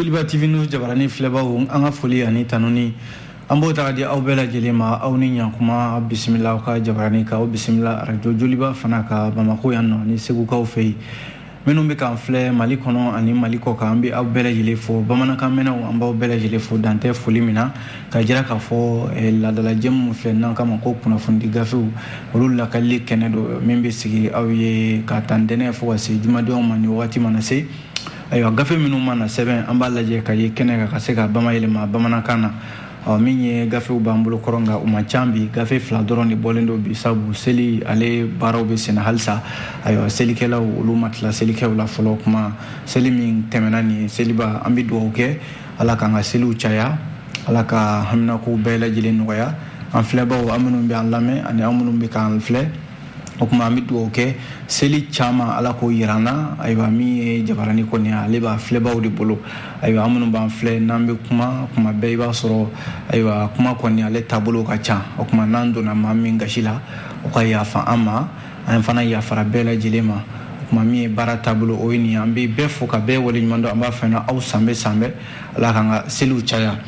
Joliba TV News jabaranin filɛbaaw an ka foli ani tanuni an b'o taga di aw bɛɛ lajɛlen ma aw ni ɲankuma bisimila aw ka jabaranin kan aw bisimila arajo joliba fana ka Bamako yan nɔ ni segukaw fɛ yen minnu bɛ k'an filɛ Mali kɔnɔ ani Mali kɔ kan an bɛ aw bɛɛ lajɛlen fo bamanankan mɛnnaw an b'aw bɛɛ lajɛlen fo dan tɛ foli min na k'a jira k'a fɔ eh, laadala jɛmu nin filɛ n'an k'a ma ko kunnafonidi gafew olu lakalili kɛnɛ don min bɛ sigi aw ye k'a ta ntɛnɛn fo ka se jumadonw ma ni wagati mana se ayiwa gafe minnu mana sɛbɛn an b'a lajɛ ka ye kɛnɛ kan ka se ka bamayɛlɛma bamanankan na ɔ min ye gafew b'an bolo kɔrɔ nka u man ca bi gafe fila dɔrɔn de bɔlen don bi sabu seli ale baaraw bɛ senna halisa ayiwa selikɛlaw olu ma tila selikɛw la fɔlɔ kuma seli min tɛmɛna nin ye seliba an bɛ dugawu kɛ ala k'an ka seliw caya ala ka haminakow bɛɛ lajɛlen nɔgɔya an filɛbaaw aw minnu bɛ an lamɛn ani aw minnu bɛ k'an filɛ o kuma an bɛ dugawu kɛ seli caman ala k'o yira an na ayiwa min ye jabarani kɔni ale b'a filɛbaw de bolo ayiwa aw minnu b'an filɛ n'an bɛ kuma kuma bɛɛ i b'a sɔrɔ ayiwa kuma kɔni ale taabolo ka ca o kuma n'an donna maa min gasi la o ka yafa an ma an fana yafara bɛɛ lajɛlen ma o kuma min ye baara taabolo o ye nin an bɛ bɛɛ fo ka bɛɛ waleɲuman dɔn an b'a fɛ aw sanbɛɛ sanbɛɛ ala k'an ka seliw caya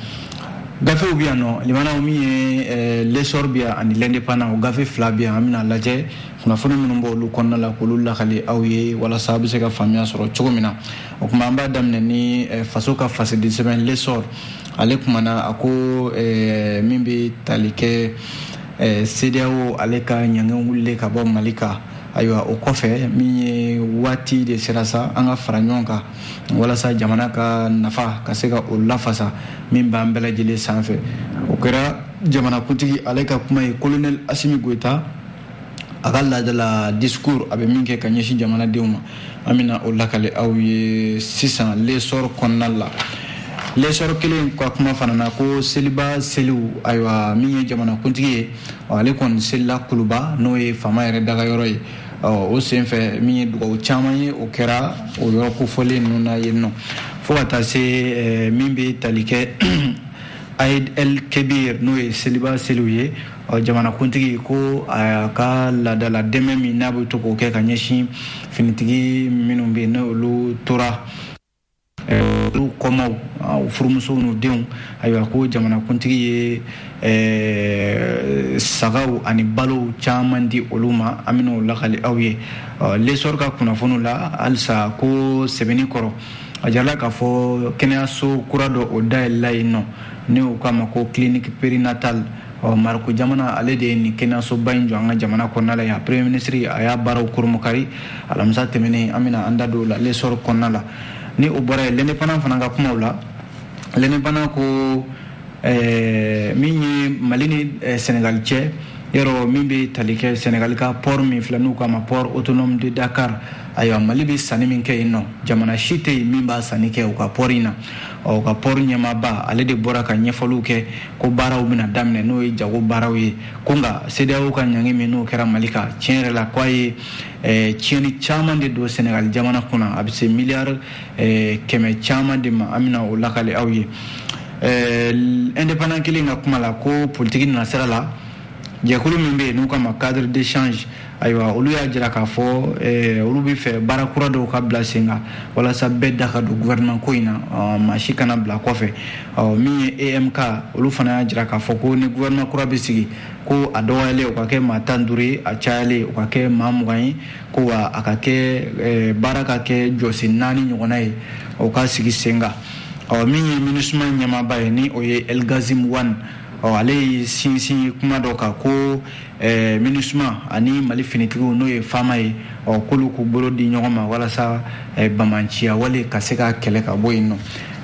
gafew bɛ yan nɔ limanaw min ye eh, l'Essor bɛ yan ani l'Indépendant o gafe fila bɛ yan an bɛna lajɛ kunnafoni minnu b'olu kɔnɔna la k'olu lakali aw ye walasa a bɛ se ka faamuya sɔrɔ cogo min na o kuma an b'a daminɛ ni eh, faso ka fasidi sɛbɛn l'Essor ale kumana a ko eh, min bɛ tali kɛ sedeyawo ale ka ɲangi wulilen ka bɔ mali kan ayiwa o kɔfɛ min ye waati de sera sa an ka fara ɲɔgɔn kan walasa jamana ka nafa ka se ka o lafasa min b'an bɛɛ lajɛlen sanfɛ o kɛra jamanakuntigi ale ka kuma ye kolonɛli asimi goyita a ka laadala discours a bɛ min kɛ ka ɲɛsin jamanadenw ma an bɛna o lakali aw ye sisan l'Essor kɔnɔna la l'Essor kelen ka kuma fana na ko seliba seliw ayiwa min ye jamanakuntigi ye ale kɔni selila kuluba n'o ye faama yɛrɛ dagayɔrɔ ye ɔ o senfɛ min ye dugawu caman ye o kɛra o yɔrɔ kofɔlen ninnu na yen nɔ fo ka taa se eh, min bɛ tali kɛ aid el kebir n'o ye seliba seliw ye ɔ jamanakuntigi ko a ka laadala dɛmɛ min n'a bɛ to k'o kɛ ka ɲɛsin finitigi minnu bɛ yen n'olu tora olu kɔmaaw u furumusow n'u denw ayiwa ko jamanakuntigi ye sagaw ani balow caman di olu ma an bɛna o lakali aw ye l'Essor ka kunnafoniw la halisa ko sɛbɛnni kɔrɔ a jirala k'a fɔ kɛnɛyaso kura dɔ o dayɛlɛla yen nɔ ni u k'a ma ko clinique périnatale ɔ marɔku jamana ale de ye nin kɛnɛyasoba in jɔ an ka jamana kɔnɔna la yan premier minisiri a y'a baaraw kurunbonkari alamisa tɛmɛnen an bɛna an da don o la lesɔri kɔnɔna la ni o bɔra yen l'indépendant fana ka kumaw la l'indépendant ko eh, min ye mali ni eh, senegali cɛ yɔrɔ min bɛ tali kɛ senegali ka port min filɛ n'u k'a ma port autonome de dakar ayiwa mali bɛ sanni min kɛ yen nɔ jamana si tɛ yen min b'a sanni kɛ u ka pɔri in na ɔ u ka pɔri ɲɛmaaba ale de bɔra ka ɲɛfɔliw kɛ ko baaraw bɛna daminɛ n'o ye jago baaraw ye ko nka CEDEAO ka ɲangi min n'o kɛra Mali kan tiɲɛ yɛrɛ la k'a ye eh, tiɲɛni caman de don Senegal jamana kunna a bɛ se miliyari eh, kɛmɛ caman de ma an bɛna o lakali aw ye eh, indépendant kelen ka kuma la ko politiki nasira la jɛkulu min bɛ yen n'u k'a ma cadre d'échange ayiwa olu y'a jira k'a fɔ olu b'a fɛ baara kura dɔw ka bila sen kan walasa bɛɛ da ka don gouvernement ko in na maa si kana bila kɔfɛ min ye EMK olu fana y'a jira k'a fɔ ko ni gouvernement kura bɛ sigi ko a dɔgɔyalen o ka kɛ maa tan duuru ye a cayalen o ka kɛ maa mugan ye ko wa a ka kɛ baara ka kɛ jɔsen naani ɲɔgɔnna ye o ka sigi sen kan ɔ min ye minusma ɲɛmaaba ye ni o ye El-Ghassim Wane ɔ ale y'i sinsin kuma dɔ kan ko Eh, minusma ani mali finitigiw n'o ye FAMa ye ɔ k'olu k'u bolo di ɲɔgɔn ma walasa eh, banbaanciya wale ka se ka kɛlɛ ka bɔ yen nɔ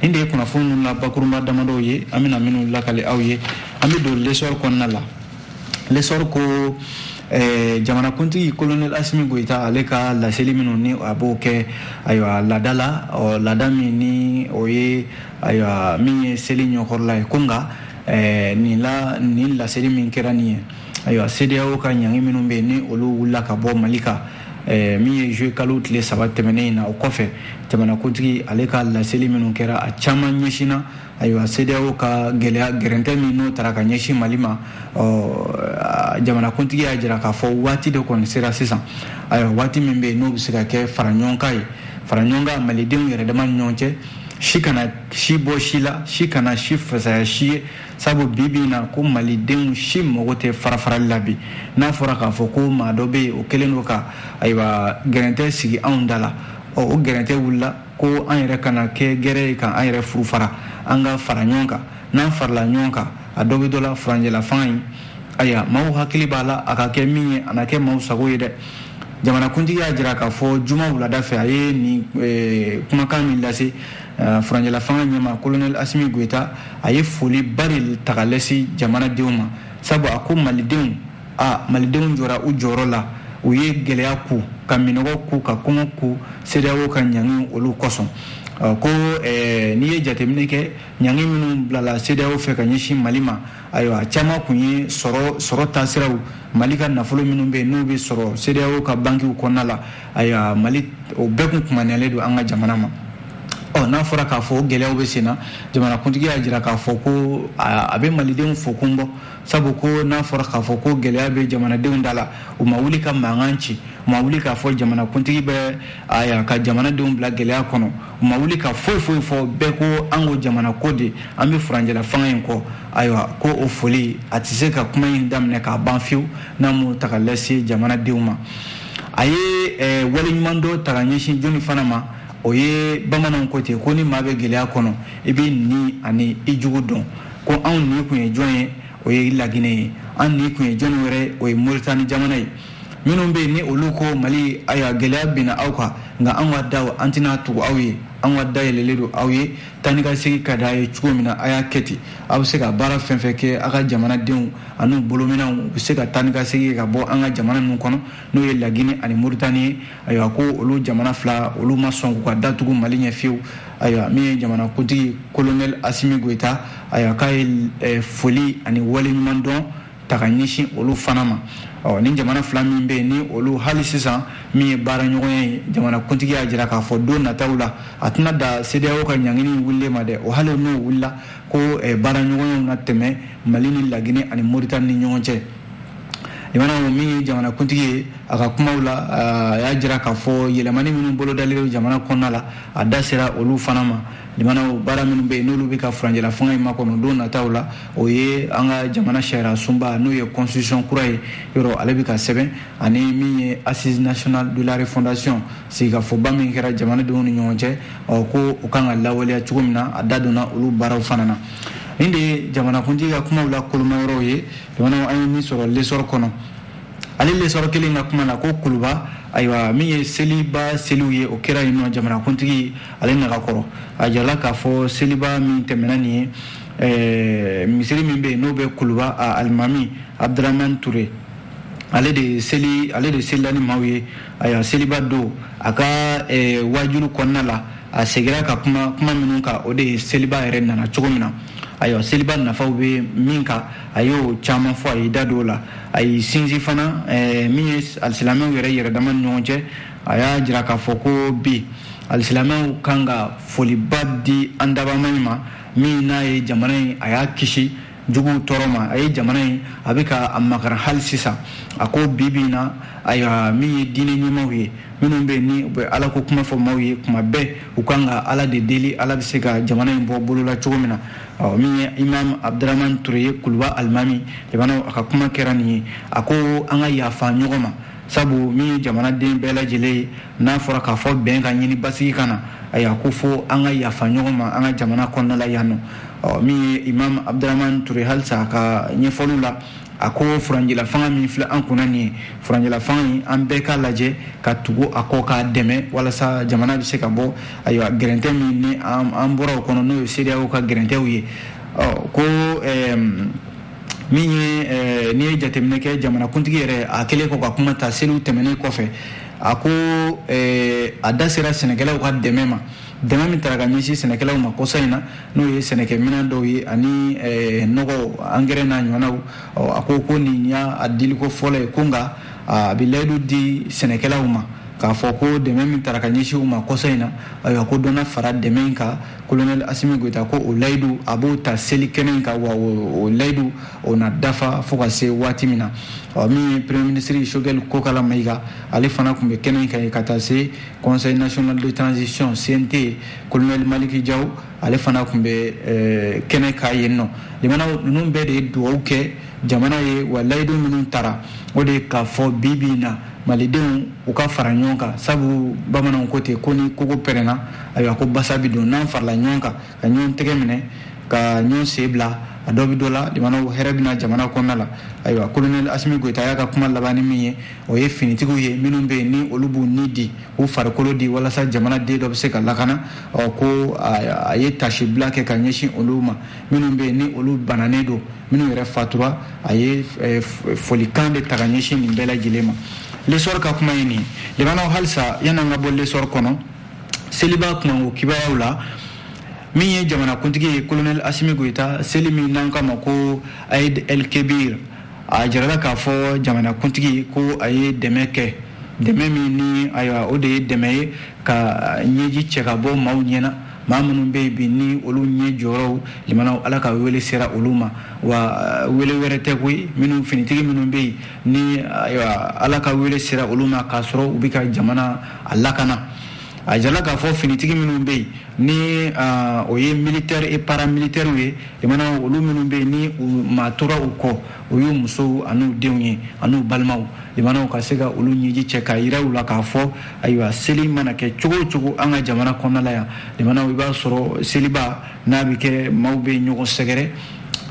nin de ye kunnafoni ninnu la bakurunba damadɔw ye an bɛna minnu lakali aw ye an bɛ don lesɔri kɔnɔna la lesɔri ko eh, jamanakuntigi kolonɛl asimi goyita ale ka laseli minnu ni a b'o kɛ ayiwa laada la ɔ laada min ni o ye ayiwa min ye seli ɲɛkɔrɔla ye ko nka ɛɛ nin la nin laseli min kɛra nin ye ayiwa CEDEAO ka ɲangi minnu bɛ yen ni olu wulila ka bɔ Mali kan ɛɛ min ye juillet kalo tile saba tɛmɛnen in na o kɔfɛ jamanakuntigi ale ka laseli minnu kɛra a caman ɲɛsinna ayiwa CEDEAO ka gɛlɛya gɛrɛntɛ min n'o tara ka ɲɛsin Mali ma ɔ jamanakuntigi y'a jira k'a fɔ waati de kɔni sera sisan ayiwa waati min bɛ yen n'o bɛ se ka kɛ faraɲɔgɔnkan ye faraɲɔgɔnkan malidenw yɛrɛ dama ni ɲɔgɔn cɛ si kana si bɔ si la si kana si fasaya si ye sabu bi bi na ko malidenw si mago tɛ farafarali la bi n'a fɔra k'a fɔ ko maa dɔ bɛ yen o kɛlen don ka ayiwa gɛrɛntɛ sigi anw da la ɔ o gɛrɛntɛ wulila ko an yɛrɛ kana kɛ gɛrɛ ye ka an yɛrɛ furu fara an ka fara ɲɔgɔn kan n'an farala ɲɔgɔn kan a dɔ bɛ dɔ la furancɛlafanga in ayiwa maaw hakili b'a la a ka kɛ min ye a na kɛ maaw sago ye dɛ jamanakuntigi y'a jira k'a fɔ juma wulada fɛ a ye nin eh, kumakan min lase Eh, furancɛlafanga ɲɛmaa kolonɛli asimi goyita a ye foli ba de ta ka ɲɛsin jamanadenw ma sabu a ko malidenw a malidenw jɔra u jɔyɔrɔ la u ye gɛlɛya ku ka minnɔgɔ ku ka kɔngɔ ku sedeyawo ka ɲangi olu kosɔn eh, ko eh, n'i ye jateminɛ kɛ ɲangi minnu bilala sedeyawo fɛ ka ɲɛsin mali ma ayiwa caman kun ye sɔrɔ sɔrɔ taasiraw mali ka nafolo minnu bɛ yen n'u bɛ sɔrɔ sedeyawo ka bankiw kɔnɔna la ayiwa mali o bɛɛ kun kumaniyalen don an ka jamana ma ɔ n'a fɔra k'a fɔ o gɛlɛyaw bɛ sen na jamanakuntigi y'a jira k'a fɔ ko a bɛ malidenw fo kun bɔ sabu ko n'a fɔra k'a fɔ ko gɛlɛya bɛ jamanadenw da la u ma wuli ka mankan ci u ma wuli k'a fɔ jamanakuntigi bɛ ayiwa ka jamanadenw bila gɛlɛya kɔnɔ u ma wuli ka foyi foyi fɔ bɛɛ ko an ko jamana ko de an bɛ furancɛlafanga in kɔ ayiwa ko o foli a tɛ se ka kuma in daminɛ k'a ban fiyewu n'a m'o ta ka lase jamanadenw ma a ye eh, waleɲuman dɔn ta ka ɲɛsin jɔnni fana ma o ye bamananw ko ten ko ni maa bɛ gɛlɛya kɔnɔ i b'i ɲin ani i jugu dɔn ko anw ɲin kun ye jɔn ye o ye laginɛ ye an ɲin kun ye jɔnni wɛrɛ o ye moritani jamana ye minnu bɛ yen ni olu ko mali ayiwa gɛlɛya binna aw kan nka an ka daw an tɛna tugu aw ye an ka da yɛlɛlen don aw ye taa ni ka segin ka d'a ye cogo min na a y'a kɛ ten aw bɛ se ka baara fɛn fɛn kɛ a ka jamanadenw ani bolominɛnw u bɛ se ka taa ni ka segin ka bɔ an ka jamana ninnu kɔnɔ n'o ye laginɛ ani moritani ye ayiwa ko olu jamana fila olu ma sɔn k'u ka da tugu mali ɲɛ fiyewu ayiwa min ye jamana kuntigi kolonɛli asimi goyita ayiwa k'a ye eh, foli ani waleɲuman dɔn ta ka ɲɛsin olu fana ma ɔ ni jamana fila min bɛ yen ni olu hali sisan min ye baaraɲɔgɔnya ye jamanakuntigi y'a jira k'a fɔ don nataw la a tɛna dan CEDEAO ka ɲangini wulilen ma dɛ o hali n'o wulila ko eh, baaraɲɔgɔnyaw na tɛmɛ Mali ni Laginɛ ani Moritani ni ɲɔgɔn cɛ jamana min ye jamanakuntigi ye a ka kumaw la a y'a jira k'a fɔ yɛlɛmani minnu bolodalen bɛ jamana kɔnɔna la a da sera olu fana ma jamanaw baara minnu bɛ yen n'olu bɛ ka furancɛlafanga in makɔnɔ don nataw la o ye an ka jamana sariya sunba n'o ye constitution kura ye yɔrɔ ale bɛ ka sɛbɛn ani min ye assises nationales de la refondation sigikafɔba min kɛra jamanadenw ni ɲɔgɔn cɛ ɔ ko u kan ka lawaleya cogo min na a da donna olu baaraw fana na nin de ye jamanakuntigi ka kumaw la koloma yɔrɔw ye jamanaw an ye min sɔrɔ lesɔrɔ kɔnɔ ale lesɔrɔ kelen ka kuma na ko kuluba ayiwa min ye seliba seliw ye o kɛra yen nɔ jamanakuntigi ale nagakɔrɔ a jirala k'a fɔ seliba min tɛmɛna nin ye misiri min bɛ yen n'o bɛ kuluba alimami abdurahman ture ale de selila ni maaw ye ayiwa seliba don a ka wajulu kɔnɔna la a segira ka kuma kuma minnu kan o de ye seliba yɛrɛ nana cogo min na ayiwa seliba nafaw bɛ min kan a y'o caman fɔ a ye da don o la a ye sinsin fana min ye alisilamɛw yɛrɛ yɛrɛ dama ni ɲɔgɔn cɛ a y'a jira k'a fɔ ko bi alisilamɛw kan ka foliba di an dabaa maa in ma min n'a ye jamana in a y'a kisi juguw tɔɔrɔ ma a ye jamana in a bɛ ka a makaran hali sisan a ko bi bi in na ayiwa min ye diinɛ ɲɛmaaw ye minnu bɛ yen ni u bɛ ala ko kuma fɔ maaw ye kuma bɛɛ u kan ka ala de deli ala bɛ se ka jamana in bɔ bolo la cogo min na ɔ min ye imam abdurahman ture ye kuluba alimami jamana a ka kuma kɛra nin ye a ko an ka yafa ɲɔgɔn ma sabu min ye jamanaden bɛɛ lajɛlen ye n'a fɔra k'a fɔ bɛn ka ɲini basigi ka na ayiwa ko fo an ka yafa ɲɔgɔn ma an ka jamana kɔnɔna la yan nɔ min ye imam abdurahman ture halisa a ka ɲɛfɔliw la a ko furancɛla fanga min filɛ an kunna nin ye furancɛla fanga in an bɛɛ k'a lajɛ ka tugu a kɔ k'a dɛmɛ walasa jamana bɛ se ka bɔ ayiwa gɛrɛntɛ min ni an bɔra o kɔnɔ n'o ye cedeao ka gɛrɛntɛw ye ko min ye eh, n'i ye jateminɛ kɛ jamanakuntigi yɛrɛ a kɛlen kɔ ka kuma ta seliw tɛmɛnen kɔfɛ a ko eh, a da sera sɛnɛkɛlaw ka dɛmɛ ma dɛmɛ min tara ka ɲɛsin sɛnɛkɛlaw ma kɔsa in na n'o ye sɛnɛkɛ minɛn dɔw ye ani eh, nɔgɔ angɛrɛ n'a ɲɔgɔnnaw a ko ko nin y'a diliko fɔlɔ ye ko nka a bɛ layidu di sɛnɛkɛlaw ma k'a fɔ ko dɛmɛ min tara ka ɲɛsin u ma kɔsa in na ayiwa ko dɔ na fara dɛmɛ in kan kolonɛli asimi goyita ko o layidu a b'o ta seli kɛnɛ kan wa o layidu o na dafa fo ka se waati min na ɔ min ye premier ministre sogɛli kokala mayiga ale fana tun bɛ kɛnɛ kan ka taa se conseil national de transition cnt kolonɛli maliki jaw ale fana tun bɛ eh, kɛnɛ kan yen nɔ limanaw ninnu bɛɛ de ye dugawu kɛ jamana ye wa layidu minnu tara o de ye k'a fɔ bi bi in na malidenw u ka fara ɲɔgɔn kan sabu bamananw ko ten ko ni kogo pɛrɛnna ayiwa ko basa bi don n'an farala ɲɔgɔn kan ka ɲɔgɔn tɛgɛ minɛ ka ɲɔgɔn sen bila a dɔ bi dɔ la limanaw hɛrɛ bɛna jamana kɔnɔna la ayiwa kolonɛli asimi goyita y'a ka kuma laban ni min ye o ye finitigiw ye minnu bɛ yen ni olu b'u ni di u farikolo di walasa jamana den dɔ bɛ se ka lakana ɔ ko a ye tasibila kɛ ka ɲɛsin olu ma minnu bɛ yen ni olu bananen don minnu yɛrɛ fatura a ye eh, folikan de ta ka ɲɛsin nin bɛɛ lajɛlen ma lesɔr ka kuma ye nin limanaw halisa yan'an ka bɔ lesɔr kɔnɔ seliba kunkanko kibaruyaw la min ye jamanakuntigi ye kolonɛl asimi goyita seli min n'an k'a ma ko aid el kebir a jirala k'a fɔ jamanakuntigi ko a ye dɛmɛ kɛ dɛmɛ min ni ayiwa o de ye dɛmɛ ye ka ɲɛji cɛ ka bɔ maaw ɲɛ na maa minnu bɛ yen bi ni olu ɲɛ jɔyɔrɔw limanaw ala ka wele sera olu ma wa wele wɛrɛ tɛ koyi minnu finitigi minnu bɛ yen ni ayiwa ala ka wele sera olu ma k'a sɔrɔ u bɛ ka jamana a lakana a jala k'a fɔ finitigi minnu bɛ yen ni o ye militaire et paramilitairew ye limanaw olu minnu bɛ yen ni u maa tora u kɔ o y'u musow an'u denw ye an'u balimaw limanaw ka se ka olu ɲɛji cɛ k'a yira u la k'a fɔ ayiwa seli mana kɛ cogo o cogo an ka jamana kɔnɔna la yan limanaw i b'a sɔrɔ seliba n'a bɛ kɛ maaw bɛ ɲɔgɔn sɛgɛrɛ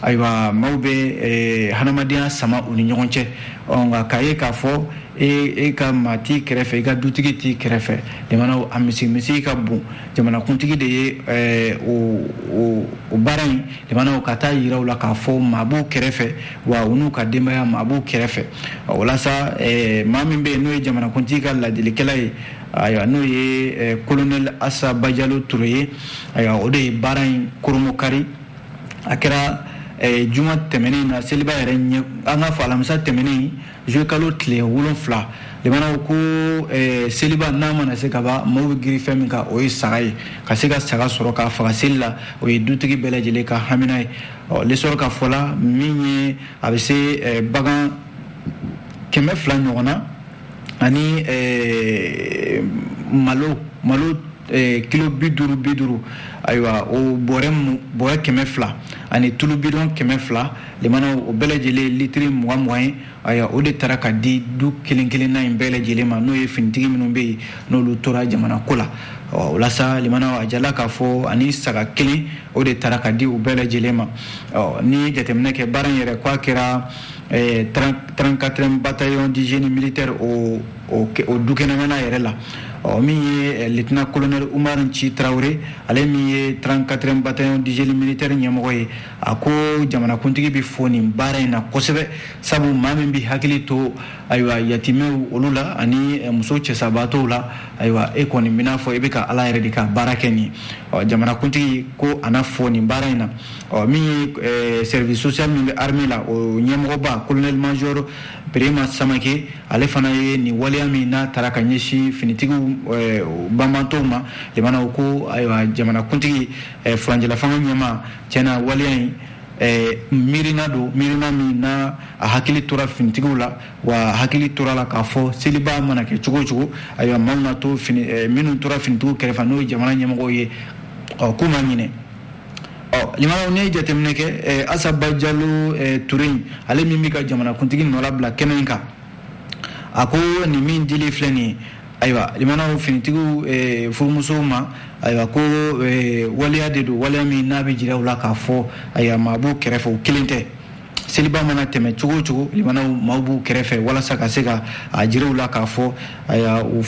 ayiwa maaw bɛ eh, hadamadenya sama u ni ɲɔgɔn cɛ nka k'a ye k'a fɔ e, e ka maa t'i kɛrɛfɛ i ka dutigi t'i kɛrɛfɛ limanaw a misi misi ka bon jamanakuntigi de ye eh, o baara in limanaw ka taa yira u la k'a fɔ maa b'u kɛrɛfɛ wa u n'u ka denbaya maa b'u kɛrɛfɛ walasa eh, maa min bɛ yen n'o ye jamanakuntigi ka ladilikɛla ye ayiwa n'o ye eh, kolonɛli asa bajalo ture ye ayiwa o de ye baara in koromokari a kɛra eh, juma tɛmɛnen na seliba yɛrɛ ɲɛ an ka fɔ alamisa tɛmɛnen Zuluye kalo tile wolonwula limanaw ko eh, seliba n'a mana se ka ban maaw bɛ girin fɛn min kan o ye saga ye ka se ka saga sɔrɔ k'a faga seli la o ye dutigi bɛɛ lajɛlen ka hamina ye ɔ L'Essor ka fɔ la min ye a bɛ se eh, bagan kɛmɛ fila ɲɔgɔn na ani eh, malo malo kilo bi duuru bi duuru ayiwa o bɔrɛ kɛmɛ fila ani tulu bidɔn kɛmɛ fila Limana o bɛɛ lajɛlen litiri mugan mugan ye ayiwa o de taara ka di du kelen kelen na in bɛɛ lajɛlen ma n'o ye finitigi minnu bɛ yen n'olu tora jamana ko la ɔ walasa limana a jala k'a fɔ ani saga kelen o de taara ka di u bɛɛ lajɛlen ma ɔ n'i ye jateminɛ kɛ baara in yɛrɛ k'a kɛra 34 bataillon du génie militaire o o dukɛnɛmana yɛrɛ la ɔ min ye lieutenant colonel Umar Nci Tarawele ale min ye 34 bataillon du génie militaire ɲɛmɔgɔ ye a ko jamanakuntigi bɛ fo nin baara in na kosɛbɛ sabu maa min bɛ hakili to ayiwa yatimɛw olu la ani eh, muso cɛsabaatɔw la ayiwa e kɔni bɛn'a fɔ i bɛ ka ala yɛrɛ de ka baara kɛ nin ɔ jamanakuntigi ko a na fo nin baara in na ɔ min ye eh, service social min bɛ armée la o ɲɛmɔgɔba colonel major Birima Samake ale fana ye nin waleya min n'a taara ka ɲɛsin finitigiw eh, banbaatɔw ma limanaw ko ayiwa jamanakuntigi eh, furancɛlafanga ɲɛmaa tiɲɛna waleya in eh, miirina don miirina min na a hakili tora finitigiw la wa a hakili tora a la k'a fɔ seliba mana kɛ cogo o cogo ayiwa maaw na to fini eh, minnu tora finitigiw kɛrɛfɛ n'o ye jamana ɲɛmɔgɔw ye ɔ k'u ma ɲinɛ ɔ limanaw n'i ye jateminɛ kɛ eh, asa bajalo eh, ture in ale min bɛ ka jamanakuntigi nɔnabila kɛnɛ in kan a ko nin min dilen filɛ nin ye ayiwa limanaw finitigiw eh, furumusow ma ayiwa ko eh, waleya de don waleya min n'a bɛ jira u la k'a fɔ ayiwa maa b'u kɛrɛfɛ u kelen tɛ seliba mana tɛmɛ cogo o cogo limanaw maaw b'u kɛrɛfɛ walasa ka se ka a jira u la k'a fɔ ayiwa u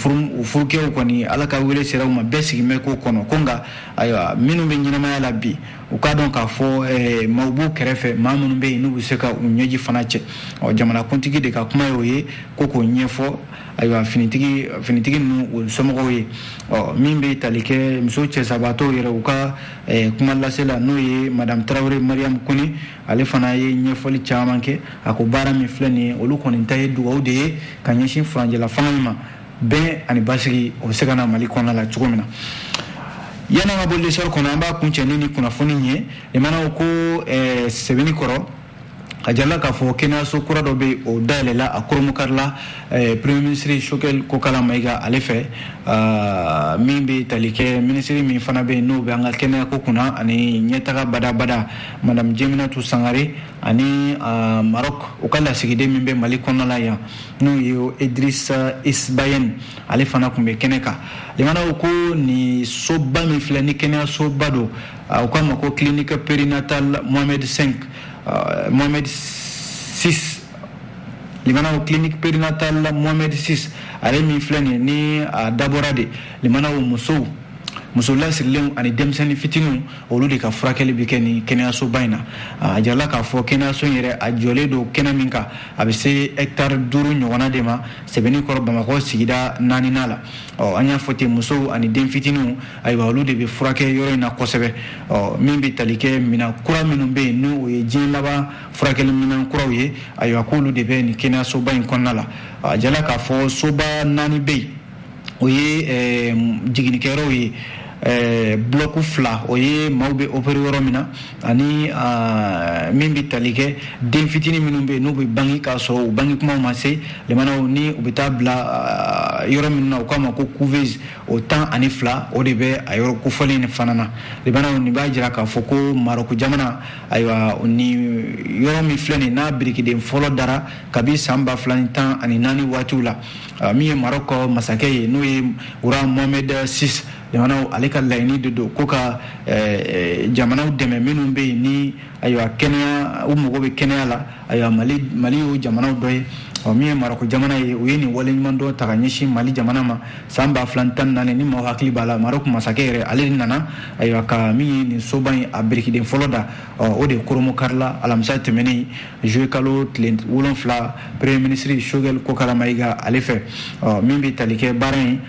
furukɛw kɔni ala ka wele sera u ma bɛɛ sigin bɛ k'o kɔnɔ ko nka ayiwa minnu bɛ ɲɛnamaya la bi u k'a dɔn k'a fɔ eh, maaw b'u kɛrɛfɛ maa minnu bɛ yen n'u bɛ se ka u ɲɛji fana cɛ ɔ jamanakuntigi de ka kuma y'o ye ko k'o ɲɛfɔ ayiwa finitigi finitigi ninnu u somɔgɔw ye ɔ min bɛ tali kɛ muso cɛsabaatɔw yɛrɛ u ka eh, kuma lasela n'o ye madame tarawele mariam kone ale fana ye ɲɛfɔli caman kɛ a ko baara min filɛ nin ye olu kɔni ta ye dugawu de ye ka ɲɛsin furancɛla fanga in ma bɛn ani basigi o bɛ se ka na mali kɔnɔna la cogo min na yan'an ka bɔ lesɔri kɔnɔ an b'a kuncɛ ni nin kunnafoni ye limanaw ko eh, sebeninkɔrɔ a jirala k'a fɔ kɛnɛyaso kura dɔ bɛ o dayɛlɛla a kurunbonkarila eh, premier ministre choguel kokala mayiga ale fɛ ah, min bɛ tali kɛ minisiri min fana bɛ yen n'o bɛ an ka kɛnɛyako kunna ani ɲɛtaga badabada madame jeminatu sangare ani ah, maroc u ka lasigiden min bɛ mali kɔnɔna la yan n'o ye idrisa isbayɛn ale fana tun bɛ kɛnɛ kan limanaw ko nin soba min filɛ nin kɛnɛyasoba don u k'a ma ko clinique perinatal mohamed 5 mohamed 6 limanaw clinique perinatal mohamed 6 ale min filɛ nin ni a dabɔra de limanaw musow muso lasirilenw ani denmisɛnnin fitiniw olu de ka furakɛli bɛ kɛ nin kɛnɛyasoba in na a jirala k'a fɔ kɛnɛyaso in yɛrɛ a jɔlen don kɛnɛ min kan a bɛ se hɛkitari duuru ɲɔgɔnna de ma sebeninkɔrɔ bamakɔ sigida naaninan la ɔ an y'a fɔ ten musow ani den fitiniw ayiwa olu de bɛ furakɛ yɔrɔ in na kosɛbɛ ɔ min bɛ tali kɛ minɛn kura minnu bɛ yen n'o ye diɲɛ laban furakɛli minɛn kuraw ye ayiwa k'olu de bɛ nin kɛnɛyasoba in kɔnɔna la a jirala k'a fɔ soba naani bɛ yen o ye eh, jiginnikɛyɔrɔw ye eh, bulɔku fila o ye maaw bɛ opere yɔrɔ min na ani ah, min bɛ tali kɛ den fitini minnu bɛ n'u bɛ bange k'a sɔrɔ u bange kumaw ma se limanaw ni u bɛ taa bila ah, yɔrɔ minnu na u k'a ma ko couveuse o tan ani fila o de bɛ a yɔrɔ kofɔlen nin fana na limanaw nin b'a jira k'a fɔ ko marɔku jamana ayiwa nin yɔrɔ min filɛ nin n'a birikiden fɔlɔ dara kabi san ba fila ni tan ani naani waatiw la ah, min ye marɔku masakɛ ye n'o ye roi mohamed six jamanaw ale ka laɲini de don ko ka eh, eh, jamanaw dɛmɛ minnu bɛ yen ni ayiwa kɛnɛya u mago bɛ kɛnɛya la ayiwa mali mali y'o jamanaw dɔ ye ɔ min ye marɔku jamana ye u ye nin waleɲuman dɔ ta ka ɲɛsin mali jamana ma san ba fila tan ni naani ni maaw hakili b'a la marɔku masakɛ yɛrɛ ale de nana ayiwa ka min ye nin soba ye a birikiden fɔlɔ da ɔ o de kurunbonkarila alamisa tɛmɛnen juillet kalo tile wolonfila premier ministre shogɛl kokala mayiga ale fɛ ɔ min bɛ tali kɛ baara ye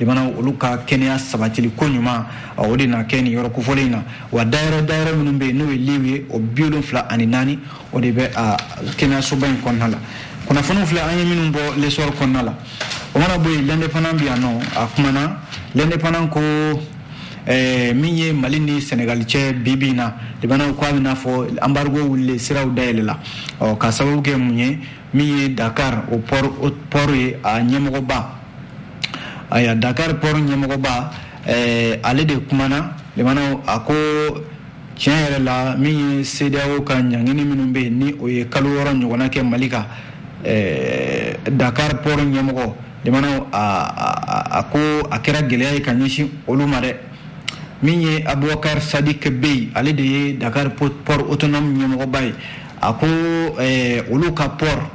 lamɛnnaw olu ka kɛnɛya sabatili ko ɲuman o de na kɛ nin yɔrɔ kofɔlen in na wa dayɔrɔ dayɔrɔ minnu bɛ yen n'o ye liw ye o bi wolonfila ani naani o de bɛ a kɛnɛyasoba in kɔnɔna la kunnafoniw filɛ an ye minnu bɔ l'essor kɔnɔna la o mana bɔ yen l'indépendant bɛ yan nɔ a kumana l'indépendant ko Eh, min ye mali ni sɛnɛgali cɛ bibi in na lamɛnnaw ko a bɛna fɔ anbarigo wulilen siraw dayɛlɛla k'a sababu kɛ mun ye min ye dakari o pɔri ye a ɲɛmɔgɔba ayiwa dakari pɔri ɲɛmɔgɔba eh, ale de kumana lamɛnnaw a ko tiɲɛ yɛrɛ la min ye sedeyawo ka ɲangini minnu bɛ yen ni o ye kalo wɔɔrɔ ɲɔgɔnna kɛ mali kan eh, dakari pɔri ɲɛmɔgɔ lamɛnnaw a ko a kɛra gɛlɛya ye ka ɲɛsin olu ma dɛ min ye abubakari sadiki beye ale de ye dakari pɔri autonome ɲɛmɔgɔba ye a ko eh, olu ka port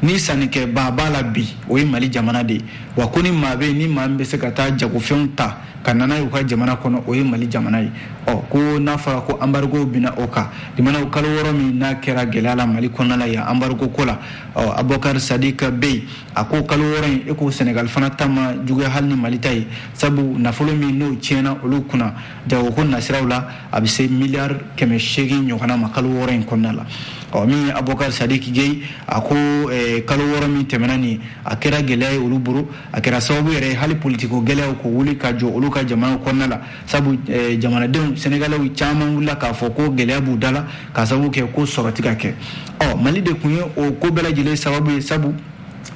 ni sannikɛbaa b'a la bi o ye mali jamana de ye wa ko ni maa bɛ yen ni maa min bɛ se ka taa jagofɛnw ta ka na n'a ye u ka jamana kɔnɔ o ye mali jamana ye ɔ ko n'a fɔra ko anbarigo binna o kan lamɛnnaw kalo wɔɔrɔ min n'a kɛra gɛlɛya la mali kɔnɔna la yan anbarigo ko la ɔ abubakar sadiki beye a ko kalo wɔɔrɔ in e ko senegal fana ta ma juguya hali ni mali ta ye sabu nafolo min n'o tiɲɛna olu kunna jagoko nasiraw la a bɛ se miliyari kɛmɛ seegin ɲɔgɔnna ma kalo wɔɔrɔ in kɔnɔna la ɔ min ye abubakar sadiki beye a ko eh, kalo wɔɔrɔ min tɛmɛna nin a kɛra gɛlɛya ye olu bolo a kɛra sababu yɛrɛ hali politiko gɛlɛyaw ka wuli ka jɔ olu ka jamanaw kɔnɔna la sabu eh, jamanadenw sɛnɛgalɛw caman wulila k'a fɔ ko gɛlɛya b'u da la k'a sababu kɛ ko sɔrɔ tɛ ka kɛ ɔ mali de kun ye o ko bɛɛ lajɛlen sababu ye sabu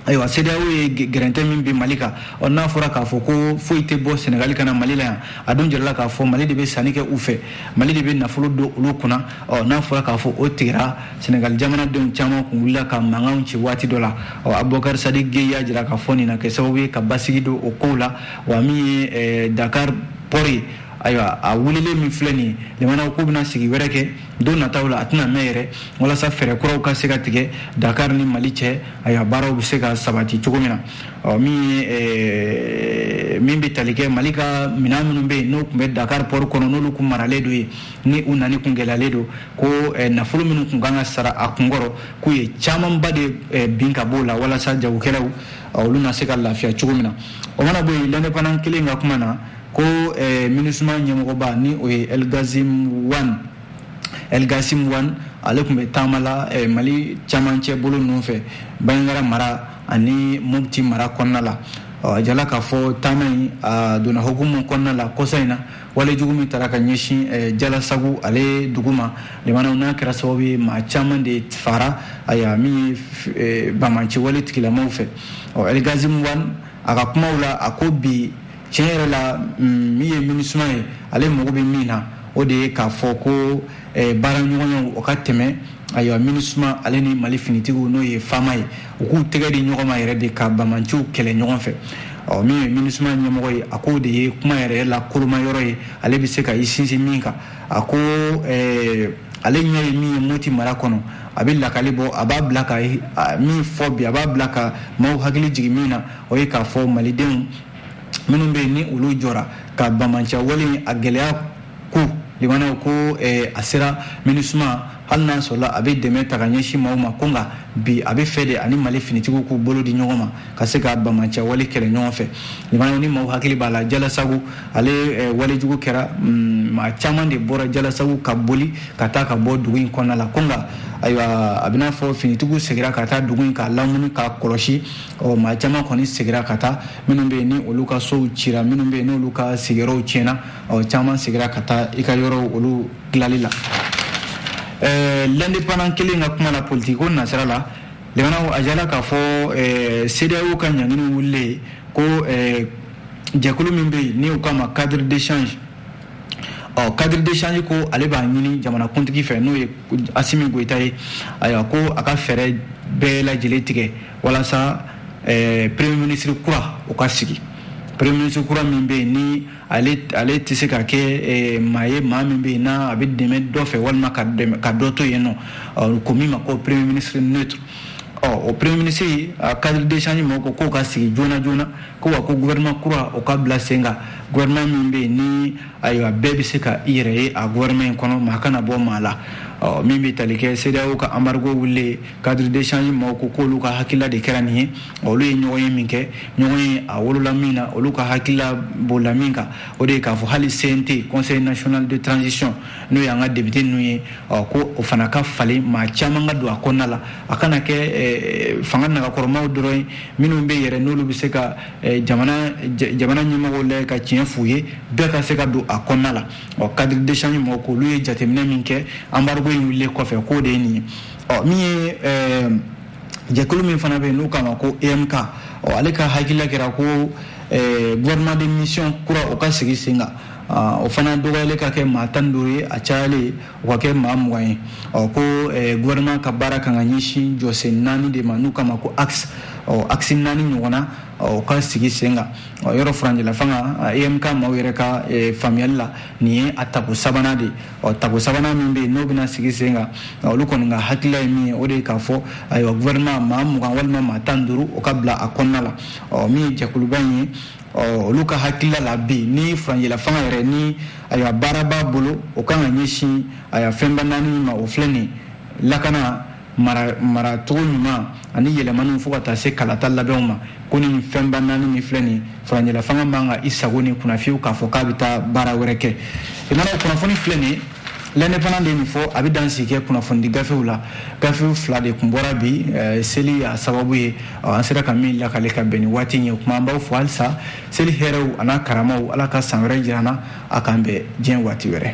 ayiwa sedeyawo ye gɛrɛntɛ min bin mali kan ɔ n'a fɔra k'a fɔ ko foyi tɛ bɔ sɛnɛgali ka na mali la yan a dun jirala k'a fɔ mali de bɛ sanni kɛ u fɛ mali de bɛ nafolo don olu kunna ɔ n'a fɔra k'a fɔ o tigɛra sɛnɛgali jamanadenw caman kun wulila ka mankanw ci waati dɔ la ɔ abubakar sadiki beye y'a jira k'a fɔ nin na kɛ sababu ye ka basigi don o kow la wa min ye eh, dakar pɔri ayiwa a wulilen min filɛ nin ye jamanaw k'u bɛna sigi wɛrɛ kɛ don nataw la a tɛna mɛn yɛrɛ walasa fɛɛrɛ kuraw ka se ka tigɛ dakar ni mali cɛ ayiwa baaraw bɛ se ka sabati cogo min na ɔ min ye eh, min bɛ tali kɛ mali ka minɛn minnu bɛ yen n'o kun bɛ dakar pɔri kɔnɔ n'olu kun maralen don yen ni u nani kun gɛlɛyalen don ko eh, nafolo minnu kun kan ka sara a kunkɔrɔ k'u ye camanba de eh, bin ka b'o la walasa jagokɛlaw olu na se ka lafiya cogo min na o mana bɔ yen l'indépendant kelen ka kuma na ko eh, minusima ɲɛmɔgɔba ni o ye elgazim wan elgasim wan ale tun bɛ taama la eh, mali camancɛ bolo ninnu fɛ banjagara mara ani mopti mara kɔnɔna la a jala k'a fɔ taama in a donna hukumu kɔnɔna la kɔsa in na wale jugu min taara ka ɲɛsin eh, jalasagu ale dugu ma limanaw n'a kɛra sababu ye maa caman de fara ayiwa min ye eh, bamanci wale tigilamaw fɛ ɔ elgazim wan a ka kumaw la a ko bi tiɲɛ yɛrɛ la mm, min ye minusima ye ale mago bɛ min na o de ye k'a fɔ ko eh, baaraɲɔgɔnyaw o ka tɛmɛ ayiwa minusima ale ni mali finitigiw n'o ye FAMa ye u k'u tɛgɛ di ɲɔgɔn ma yɛrɛ de ka bamanciw kɛlɛ ɲɔgɔn fɛ ɔ min ye minusima ɲɛmɔgɔ ye a k'o de ye kuma yɛrɛ la koloma yɔrɔ ye ale bɛ se ka i sinsin min kan a ko eh, ale ɲɛ ye min ye moti mara kɔnɔ a bɛ lakali bɔ a b'a bila ka min fɔ bi a b'a bila ka maaw hakili jigin min na o ye k'a fɔ malidenw minnu bɛ yen ni olu jɔra ka bamanciya wale a gɛlɛya ko limanaw ko eh, a sera minusima hali n'a sɔrɔla a bɛ dɛmɛ ta ka ɲɛsin maaw ma ko nka bi a bɛ fɛ de a ni mali finitigiw k'u bolo di ɲɔgɔn ma ka se ka bamanciya wale kɛlɛ ɲɔgɔn fɛ limanaw ni maaw hakili b'a la jalasagu ale eh, walejugu kɛra mm, maa caman de bɔra jalasagu ka boli ka taa ka bɔ dugu in kɔnɔna la ko nka ayiwa a bɛna fɔ finitigiw segira ka taa dugu in k'a lamini k'a kɔlɔsi ɔ maa caman kɔni segira ka taa minnu bɛ yen ni olu ka sow cira minnu bɛ yen n'olu ka sigiyɔrɔw tiɲɛna ɔ caman segira ka taa i ka yɔrɔw olu dilali la ɛɛ L'Indépendant kelen ka kuma la politikiko nasira la limanaw a jala k'a fɔ ɛɛ CEDEAO ka ɲangini wulilen ko ɛɛ jɛkulu min bɛ yen ni u k'a ma cadre d'échange ɔ cadre d'échange ko ale b'a ɲini jamanakuntigi fɛ n'o ye Asimi Goyita ye ayiwa ko a ka fɛɛrɛ bɛɛ lajɛlen tigɛ walasa eh, premier ministre kura o ka sigi premier ministre kura min bɛ yen ni ale ale tɛ se ka kɛ eh, maa ye maa min bɛ yen n'a a bɛ dɛmɛ dɔ fɛ walima ka dɛmɛ ka dɔ to yen n'u ko min ma ko premier ministre neutre ɔ o premier ministre a cadre d'échange mɔgɔw ko k'o ka sigi joona joona ko wa ko gouvernement kura o ka bila sen kan gouvernement min bɛ yen ni ayiwa bɛɛ bɛ se ka i yɛrɛ ye a gouvernement in kɔnɔ maa kana bɔ maa la ɔ min bɛ tali kɛ CEDEAO ka embargo wulilen cadre d'échange maaw ko k'olu ka hakilila de kɛra nin ye olu ye ɲɔgɔnye min kɛ ɲɔgɔnye a wolola min na olu ka hakilila bolila min kan o de ye k'a fɔ hali CNT conseil national de transition n'o y'an ka député ninnu ye ɔ ko o fana ka falen maa caman ka don a kɔnɔna la a kana kɛ eh, fanga nagakɔrɔmaw dɔrɔn ye minnu bɛ yɛrɛ n'olu bɛ se ka eh, jamana jamana ɲɛmɔgɔw lajɛ ka tiɲɛ f'u ye bɛɛ ka se ka don a kɔnɔna la ɔ cadre d'échange mɔgɔw k'olu ye jateminɛ min kɛ embargo in wulilen kɔfɛ k'o de ye nin ye ɔ min ye ɛɛ jɛkulu min fana bɛ yen n'u k'a ma ko emk ɔ ale ka hakilila kɛra ko ɛɛ gouvernement de mission kura o ka sigi sen kan Ah, o fana dɔgɔyalen ka kɛ maa tan duuru ye a cayalen o ka kɛ maa mugan ye ɔ ko eh, gouvernement ka baara kan ka ɲɛsin jɔsen naani de ma n'u k'a ma ko axe ɔ axe naani ɲɔgɔnna o ka sigi sen kan yɔrɔ furanjɛlafanga emk maaw yɛrɛ ka eh, faamuyali la nin ye a tako sabanan de ye ɔ tako sabanan min bɛ yen n'o bɛna sigi sen kan olu kɔni ka hakilila ye min ye o de ye k'a fɔ ayiwa gouvernement maa mugan walima maa tan duuru o ka bila a kɔnɔna la ɔ min ye jɛkuluba in ye ɔ olu ka hakilila la bi nin furancɛla fanga yɛrɛ nin ayiwa baara b'a bolo o kan ka ɲɛsin ayiwa fɛnba naani min ma o filɛ nin ye lakana maracogo ɲuman ani yɛlɛmaniw fo ka taa se kalata labɛnw ma ko nin fɛnba naani min filɛ nin furancɛlafanga man ka i sagon nin kunna fiyewu k'a fɔ k'a bɛ taa baara wɛrɛ kɛ i mana kunnafoni filɛ nin l'indépendant de nin fɔ an bɛ dan sigi kɛ kunnafonidi gafew la gafew fila de tun bɔra bi eh, seli a sababu ye an sera ka min lakale ka bɛn ni waati ye kuma an b'aw fo halisa seli hɛrɛw a n'a karamaw ala ka san wɛrɛ jira an na a k'an bɛn diɲɛ waati wɛrɛ